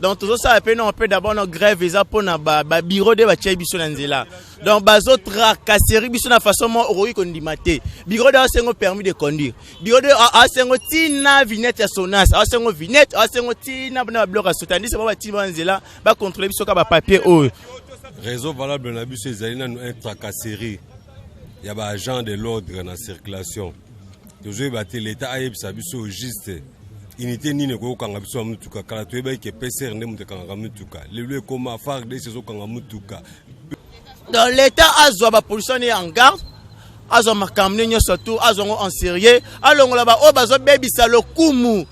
donc tozosala mpe noko mpe d'abord no grève eza mpo na babiro de batyai biso na nzela donc bazotracaseri biso na façon moko okoki kondima te biro de asengo permis de conduire biro de asengo ntina vignette ya sonas asengo vignette asengo ntina na babiloko ya sotandise bao batini bao na nzela bakontrole biso kaka bapapier oyo réseau valable na biso ezali nanu un tracasserie ya ba agent de l'ordre na circulation tozoyeba te leta ayebisa biso juste unité nini ekoki kokanga biso ya motuka kala toyebaki ke pcr nde moto ekangaka motuka lelo ekoma fardes ezokanga motuka donc leta azwa bapolisiani ya en garde azwa makambo ne nyonso tu azwa yango en serieux alongola baoyo bazobebisa lokumu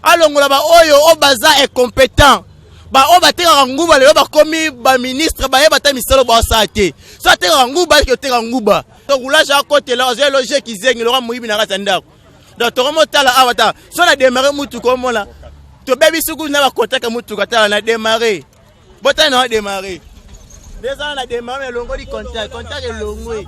alongola baoyo oyo baza incompetent baoyo batekaka nguba lelo bakomi baministre bayeba ata misolo basala te so atekaka nguba ayeke oteka nguba tokulage akotela azwa eloge kizengi loka moyibi na kati ya ndako donc tokomotala awa ta so na demare mutuka omona tobebi suku na bakontaka mutuka tala na demare botala na demare ndezala na demare elongoli contact contact elongwe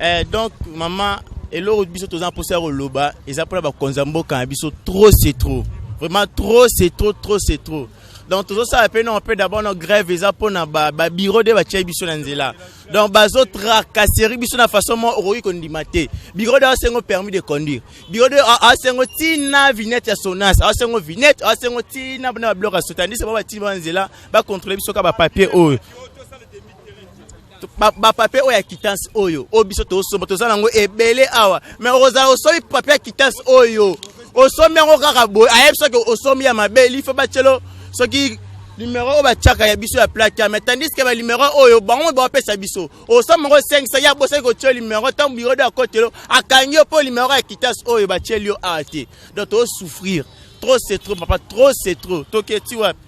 eh, donc mama eloko biso toza na mposa ya koloba eza mpona bakonzi ya mboka na biso trop c'est trop vraiment trop c'est trop trop c'est trop donc tozosala mpe noko mpe d'abord no grève eza mpona babiro nde batyai biso na nzela donc bazotracaseri biso na façon moko okoki kondima te biro de asengo permis de conduire biro de asengo ntina vignette ya sonas asengo vignette asengo ntina na babiloko ya sotandise bao batini bao na nzela bakontrole biso ka bapapier oyo bapapie oyo ya quittance oyo oyo biso tosomba toza nango ebele awa mais okozala osombi papie ya quittance oyo osombi yango kaka boye ayebi soki osombi ya mabe lifo batyelo soki numero oyo batyaka ya biso ya plate ya mais tandis ke banumero oyo bango bapesa biso osombi yango 5 ya bosaki kotyo numero ntango biro de akotelo akangi yo mpo numero ya quittance oyo batyeli yo awa te donc tosouffrir trop c'est trop papa trop c'est trop toketi wapi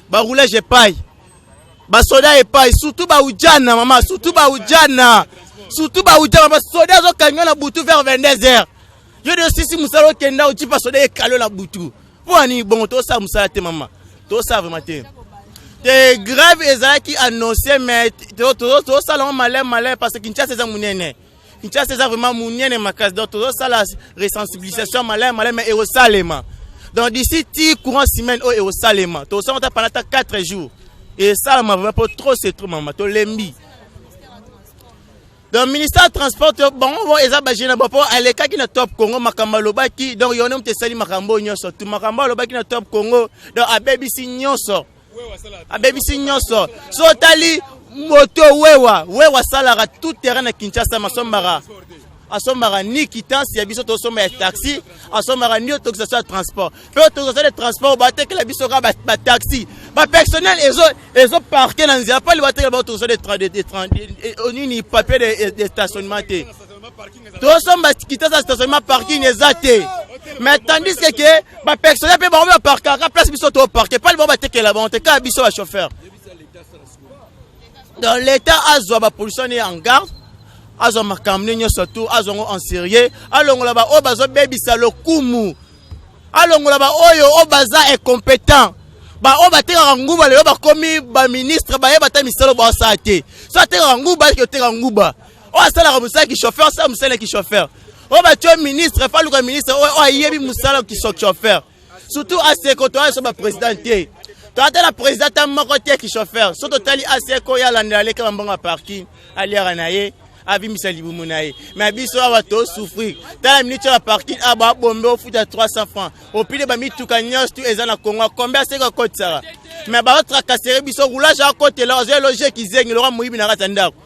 baroulage epai basoda epai surtout baujana mama surtout baujana surtout baujana basoda azokangiwa na butu vers 22 heures yo de osisi mosala okenda ojipa soda ekalo na butu mpo ani bongo tosala mosala te mama tosala vraimen te te grave ezalaki annonce mais tosala yango malai malai parce que kinshasa eza monene Kinshasa eza vraiment munene makasi donc tozosala resensibilisation malamu malamu ekosalema donc d'ici ti courant semaine oyo ekosalema tosala ata pendant ata 4 jours esalama vraiment mpo trop c'est trop mama tolembi donc ministère ya transport bango bo eza bagene bo mpo alekaki na top congo makambo alobaki donc yone moto esali makambo oyo nyonso tu makambo alobaki na top congo donc abebisi nyonso abebisi nyonso so otali moto wewa wewa asalaka tout terrain na kinshasa masombaka asombaka ni kitance ya biso tosomba ya taxi asombaka ni autorisation ya transport mpe autorisation de transport batekela biso kaka bataxi bapersonnel ezo parke na nzela mpali batekela baautorisation nini papier de stationnement te tosomba kitasa stationnement parking eza te mais tandis que ke bapersonnel mpe bango baparkaka place biso toparke pale bango batekela bango te kaka biso bachauffeur donc l'état azwa bapolition ne en garde azwa makambo ne nyonso tu azwa yango en sérieux alongola baoyo bazobebisa lokumu alongola baoyo oyo baza incompétent baoyo batekaka nguba lelo bakomi baministre bayeba ata misala baosala te so atekaka nguba ayeke oteka nguba oyo asalaka mosala kichauffeur asala mosala ya kichauffeur oyo batyo ministre faluka ministre oyo ayebi mosala kichauffeur surtout aseko toya so baprésident te toya te na président ta moko te kichauffeur so totali aseko ye alandela aleka bambongo ya parking aliaka na ye avimbisa libumu na ye me biso awa tosouffrir tala minute ya parking awa babombe ofuta 300 francs opile bamituka nyonso tu eza na kongo combien aseko akotisaka me baotrakasere biso roulage akotela ozoya loge kizengi loka moyibi na kati ya ndako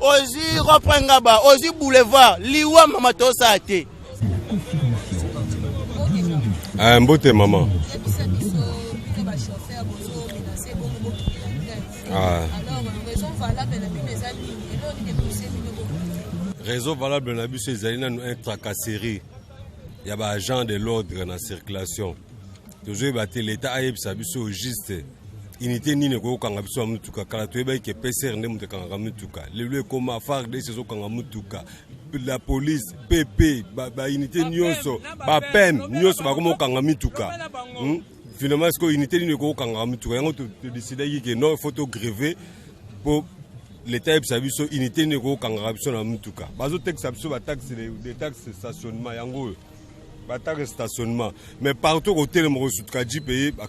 ozwi reprend ngaba ozwi boulevard liwa mama tosaa te eh, mbote mama ah. réseau valable na biso ezali nanu un tracasserie ya ba agent de l'ordre na circulation tozoyeba te leta ayebisa biso juste unité nini ekoki kokanga biso ya motuka kala toyebaki ke pcr nde moto ekangaka motuka lelo ekoma fardes ezokanga motuka la police pp baunité ba nyonso bapeme nyonso bakoma kokanga mituka hmm? Finalement, est-ce que l'unité n'est pas kanga mutuka yango to décidaki que non, il faut to gréver pour l'État yebisa biso unité n'est pas kanga biso na mutuka. Bazo texte biso ba taxe des taxes stationnement yango ba taxe stationnement. Mais partout au télé mo sutuka ji payer ba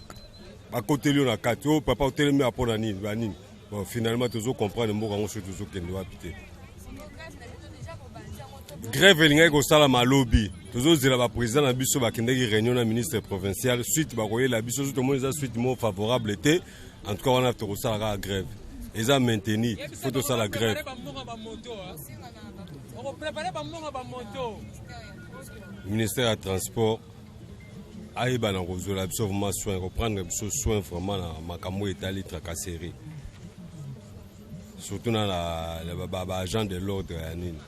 ba kotelio na kati. Oh papa au télé mais apona nini ba nini. Bon, finalement tozo comprendre mboka yango soki tozo kende wapi te. Grève elingaki kosalama lobi tozozela baprésident na biso bakendaki réunion na ministre provincial suite bakoyela biso so tomoni eza suite moko favorable te en tout cas wana tokosala kaka grève eza maintenu fo tosala grève ministère ya transport ayeba na kozwela biso vraiment soin koprendre biso soin vraiment na makambo oyo etali tracasserie surtout na baagent de l'ordre ya nini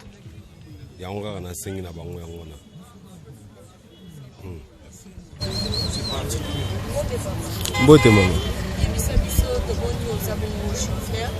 yango kaka nasengi na bango yango na hmm. mbote mama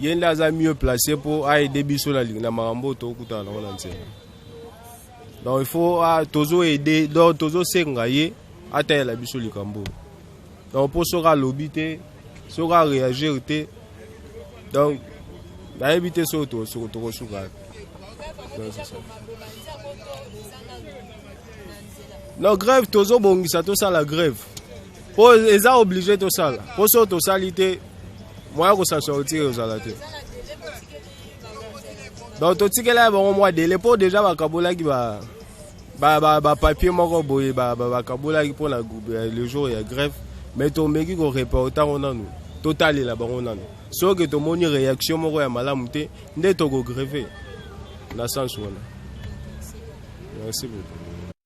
ye nde aza mieux place mpo aide biso na, na makambo oyo tokutana nango na nzela donc il faut ah, tozo aide donc tozosenga ye atalela biso likambo oyo donc mpo soki alobi te soki areagir te donc nayebi te soki tokosuka non grève tozobongisa tosala grève po eza oblige tosala po soki tosali te moya kosa sortir ezala te donc totikela bango mwa dele mpo deja bakabolaki ba bapapier ba, ba moko boye bakabolaki ba, ba mpo na euh, le jour ya grève mais tomeki koreporte yango nanu totalela bango nanu soki tomoni réaction moko ya malamu te nde tokogreve na sens wana merci beaucoup